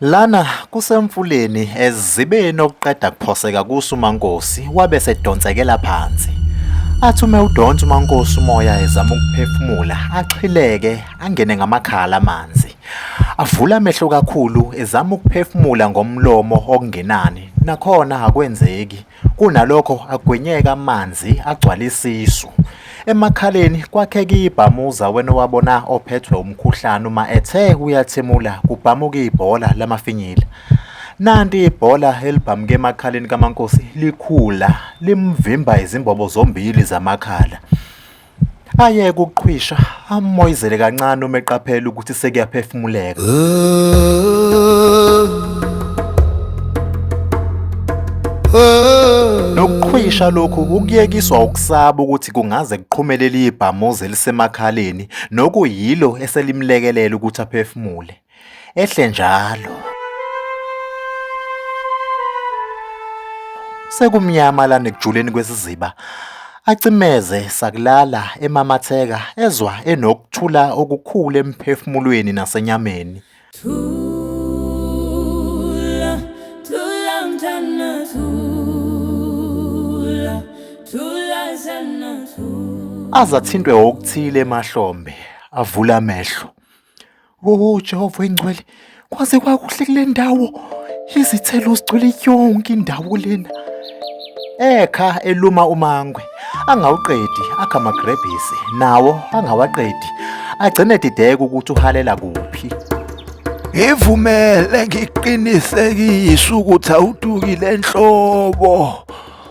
Lana kusemfuleni ezibeni okuqeda kuphoseka kuso uMankosi wabe sedonsekela phansi. Athi ume udonsa uMankosi umoya ezama ukuphefumula axhileke angene ngamakhala amanzi. Avula amehlo kakhulu ezama ukuphefumula ngomlomo okungenani nakhona akwenzeki. Kunalokho agwinyeke amanzi agcwale isisu. Emakhaleni kwakheka ibhamuza wena owabona ophethwe umkhuhlane uma ethe uyathimula kubhamuka ibhola lamafinyila. Nanti ibhola elibhamuke emakhaleni kaMankosi likhula limvimba izimbobo zombili zamakhala. Ayeke ukuqhwisha, amoyizele kancane uma eqaphela ukuthi sekuyaphefumuleka. Nokuqhwisha lokhu ukuyekiswa ukusaba ukuthi kungaze kuqhumele liyibhamuza elisemakhaleni nokuyilo eselimlekelela ukuthi aphefumule. ehle njalo. Sekumnyama lana ekujuleni kwesiziba acimeze sakulala emamatheka ezwa enokuthula okukhulu emphefumulweni nasenyameni. Thula, thula mntana thula, thula sana thula. Azathintwe okuthile emahlombe avula amehlo. Oh Jehova engcwele, kwaze kwakuhle kule ndawo. Izithelo zigcwele yonke indawo lena. Ekha eluma umangwe, angawuqedi akha amagrebhisi, nawo angawaqedi. Agcine dideka ukuthi uhalela kuphi. Ngivumele ngiqinisekise ukuthi awudukile enhlobo.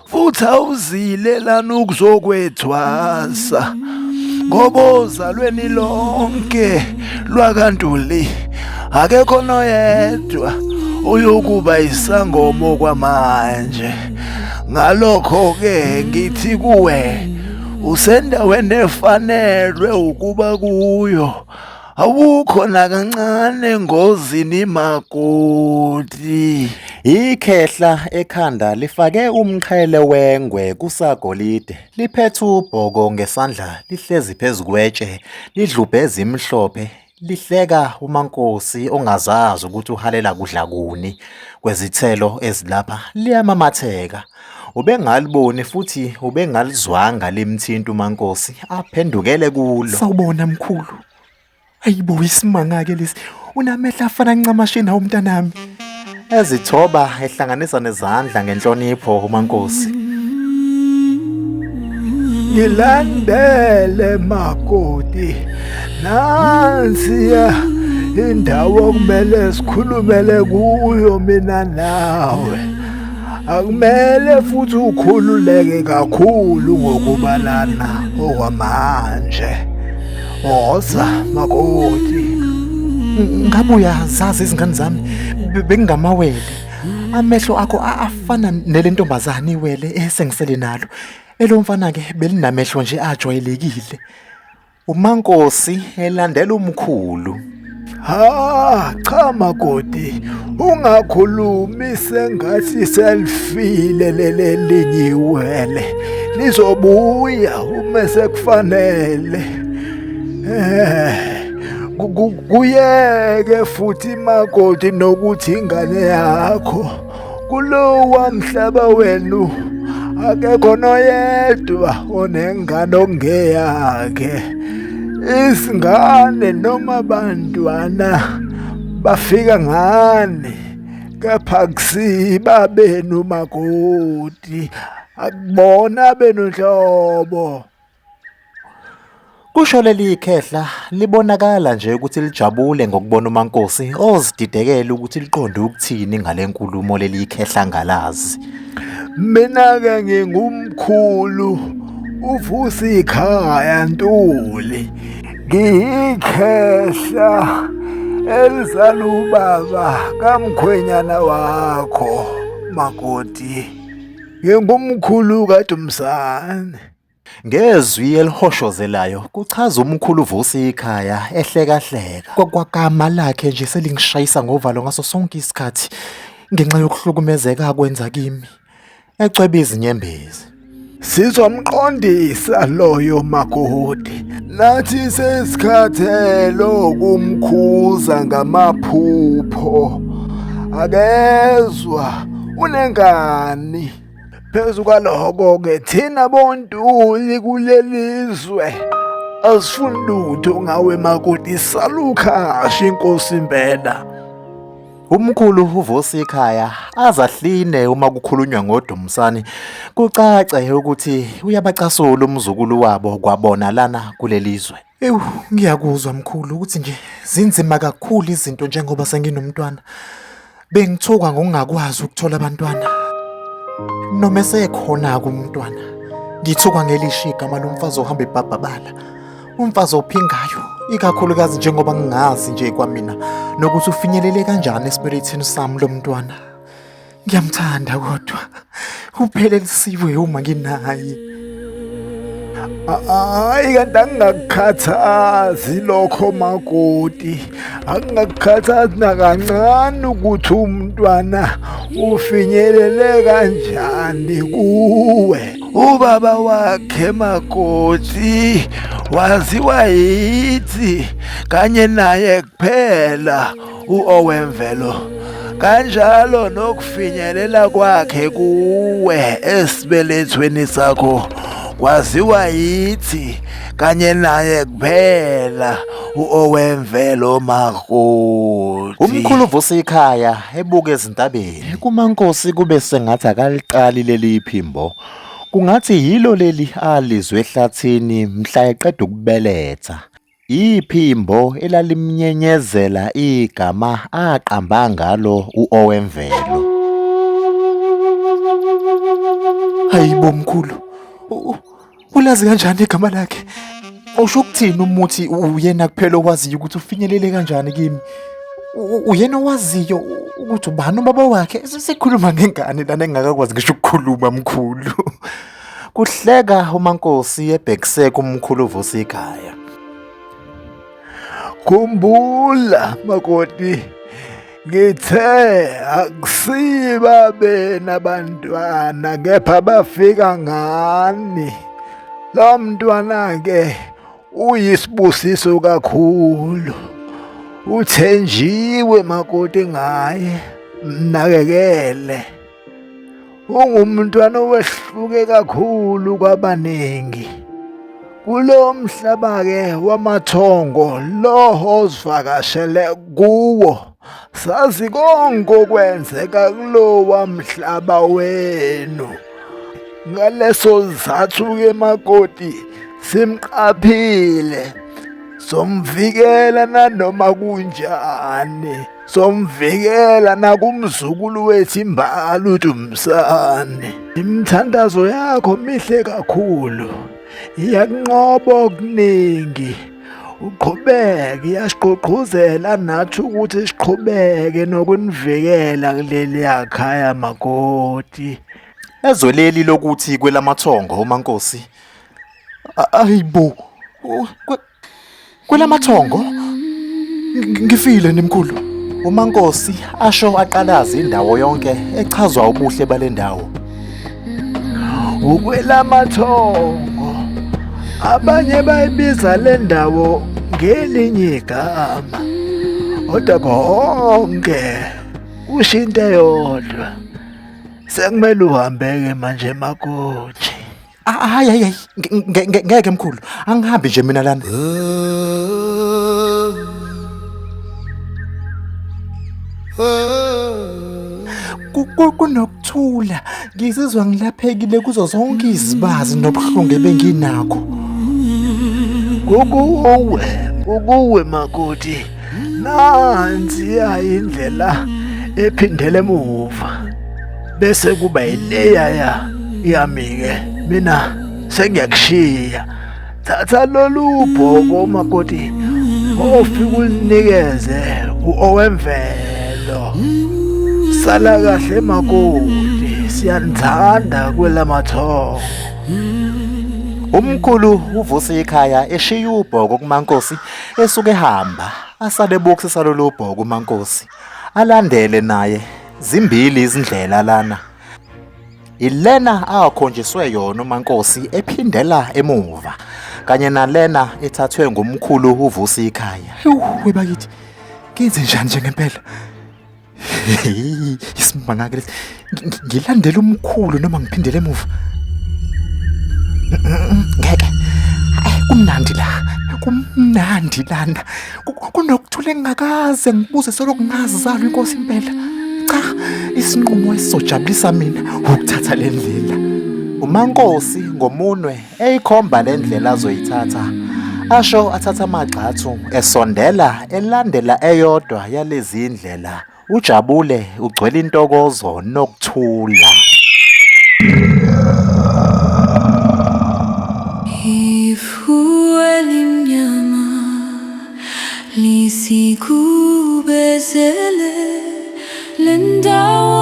futhi awuzile lana ukuzokwethwasa ngoba ozalweni lonke lwakantuli akekho noyedwa uyokuba isangomo kwamanje ngalokho ke ngithi kuwe usendaweni efanelwe ukuba kuyo awukho nakancane engozini makoti ikhehla ekhanda lifake umqhele wengwe kusagolide liphethe ubhoko ngesandla lihlezi phezu kwetshe lidlubhe ezimhlophe lihleka umankosi ongazazi ukuthi uhalela kudla kuni kwezithelo ezilapha liyamamatheka Ubengaliboni futhi ubengalizwanga limthinta uMankosi aphendukele kulo. Sawubona mkhulu. Ayibo isimanga-ke lesi. Unamehla afana ncamashi nawo mntanami. Ezithoba ehlanganisa nezandla ngenhlonipho uMankosi. Ngilandele makoti. Nansiya indawo okumele sikhulumele kuyo mina nawe. Akumele futhi ukhululeke kakhulu ngokubalana okwamanje. Woza makoti. Ngabe uyazazi izingane zami bengingamawele. Amehlo akho afana nelentombazane iwele esengisele nalo. Elomfana ke belinamehlo nje ajwayelekile. UMankosi elandela umkhulu. Ha cha makoti ungakhulumi sengathi selfile lelelinyiwele lizobuya uma sekufanele eh kuyeke futhi makoti nokuthi ingane yakho kulowa mhlaba wenu akekho noyedwa onengane okungeyakhe isingane noma abantwana bafika ngani kepha kusiba benu makoti akubona benu nhlobo Kusho leli khehla libonakala nje ukuthi lijabule ngokubona uMankosi ozididekele ukuthi liqonde ukuthini ngale nkulumo leli khehla ngalazi. Mina-ke ngingumkhulu uvusa ikhaya Ntuli ngiyikhehla elizala ubaba kamkhwenyana wakho makoti ngingumkhulu kaDumsane. Ngezwi elihoshozelayo kuchaza umkhulu Vusi ikhaya ehlekahleka. Kwagama lakhe nje selingishayisa ngovalo ngaso sonke isikhathi ngenxa yokuhlukumezeka akwenza kimi. Ecwebe izinyembezi. Sizomqondisa loyo makoti. Nathi sesikhathele ukumkhuza ngamaphupho. Akezwa unengani. Phezu kwaloko-ke thina bontuli kuleli zwe asifuni lutho ngawe makoti salukhashi inkosi impela Umkhulu uvusa ikhaya azahline uma kukhulunywa ngoDumsani kucace ukuthi uyabacasula umzukulu wabo kwabona lana kulelizwe. Ewu, ngiyakuzwa mkhulu ukuthi nje zinzima kakhulu izinto njengoba senginomntwana. Bengithuka ngokungakwazi ukuthola abantwana. Noma esekhona-ke umntwana, ngithuka ngelishi igama lomfazi ohamba ebhabhabala. Umfazi ophingayo, ikakhulukazi njengoba ngingazi nje kwamina nokuthi ufinyelele kanjani esibelethini sami lo mntwana. Ngiyamthanda kodwa uphele lisiwe uma nginaye. Hayi kanti angingakukhathazi lokho makoti angingakukhathazi nakancane ukuthi umntwana ufinyelele kanjani kuwe ubaba wakhe makoti waziwa yithi kanye naye kuphela uOwemvelo kanjalo nokufinyelela kwakhe kuwe esibelethweni sakho kwaziwa yithi kanye naye kuphela uOwemvelo Makoti umkhulu uvusa ikhaya ebuka ezintabeni kumankosi kube sengathi akaliqali leli phimbo kungathi yilo leli alizwe ehlathini mhla eqeda ukubeletha Iphimbo elalimnyenyezela igama aqamba ngalo u-Owemvelo. Hayi bo mkhulu, ulazi kanjani igama lakhe? Usho ukuthini umuthi uyena kuphela owaziyo ukuthi ufinyelele kanjani kimi? Uyena owaziyo ukuthi ubani ubaba wakhe? Sikhuluma ngengane lana engingakakwazi ngisho ukukhuluma mkhulu. Kuhleka uMankosi ebhekise kumkhulu Vusi ikhaya. Khumbula makoti ngithe akusiba bena bantwana kepha bafika ngani lo mntwana ke uyisibusiso kakhulu uthenjiwe makoti ngaye mnakekele ungumntwana owehluke kakhulu kwabaningi kulo mhlaba-ke wamathongo loho ozivakashele kuwo sazi konke okwenzeka kulowa mhlaba wenu ngaleso sizathu-ke makoti simqaphile somvikela nanoma kunjani somvikela nakumzukulu wethu imbali uDumsane imithandazo yakho mihle kakhulu iyakunqoba okuningi uqhubeke iyasiqhuqhuzela nathi ukuthi siqhubeke nokunivikela kuleli yakhaya makoti ezwe leli lokuthi kwelamathongo umankosi ayibo Kulamathongo ngifile nimkhulu. UMankosi asho aqalaza indawo yonke echazwa ubuhle balendawo. Ukwelamathongo abanye bayibiza lendawo ngelinye igama. Kodwa konke ushinte yodwa. Sekumele uhambeke manje makoti. Ah, Hayi hayi hayi nge- nge- nge- ngeke mkhulu angihambi nje mina lana. Ku- ku- Kunokuthula ngizizwa ngilaphekile kuzo zonke izibazi nobuhlungu ebenginakho. Kukuwe, kukuwe makoti. nansiya indlela ephindele emuva bese kuba ileyaya yami-ke mina sengiyakushiya thatha lolu bhoko makoti ofike ulinikeze u-owemvelo sala kahle makoti siyanithanda kwelamathongo Umkhulu uvusa ikhaya eshiya ubhoko kumankosi Esuke hamba asale box salolubho kumankosi alandele naye zimbili izindlela lana ilena akhonjiswe yona umankosi ephindela emuva kanye nalena ethathwe ngumkhulu uvusi ikhaya hey bakithi kenze njani njengempela isimanga ke ngilandela umkhulu noma ngiphindele emuva ngeke kumnandi la kumnandi lana kunokuthula engingakaze ngibuze soloko ngazizalo inkosi impela cha isinqumo esizojabulisa mina ukuthatha le ndlela umankosi ngomunwe eyikhomba le ndlela azoyithatha asho athatha amagxathu esondela elandela eyodwa yalezi ndlela ujabule ugcwele intokozo nokuthula elimnyama lisikubezele le ndawo